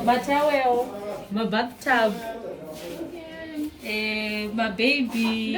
matawel mabathtub eh, mababy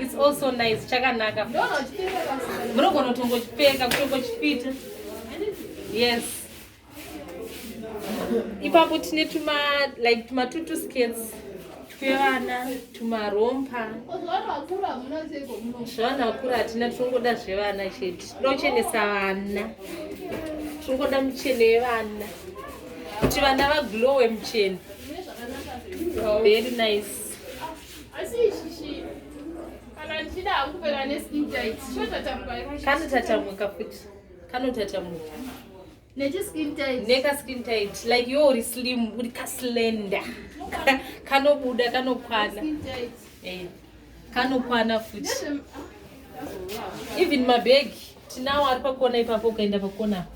It's also nice, chakanaka. Munogona kutongochipfeka, kutongochipfita. Yes. Ipapo tine tuma like tuma tutu skates. Kevana tumarompa zvavana vakura hatina tinongoda zvevana chete tinochenesa vana tinongoda muchene yevana kuti vana vaglowe muchene very nice kanotatamwika futi kanotatamwika nekaskin tight like yo uri slim uri kaslender kanobuda kanokwana eh, kanokwana futi even mabhegi tinawo ari pakona ipapo ukaenda pakona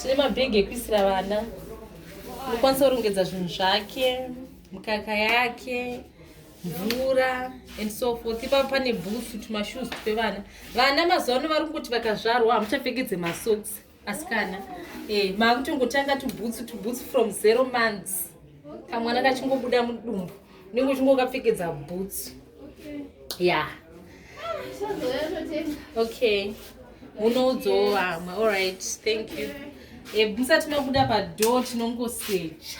tine mabhegi ekuisira vana unokwanisa kurongedza zvinhu zvake mukaka yake mvura and so forth ipapo pane bhusu tumashoes twevana vana mazuva ano vari kuti vakazvarwa hamuchapfekedze masocks asikana eh, maakutongotanga tubhutsu tubhutsu from zero months kamwana kachingobuda mudumbu unenge uchingokapfekedza bhutsu ya okay munoudzawo vamwe allright thank you eh, musati mabuda padoo tinongosecha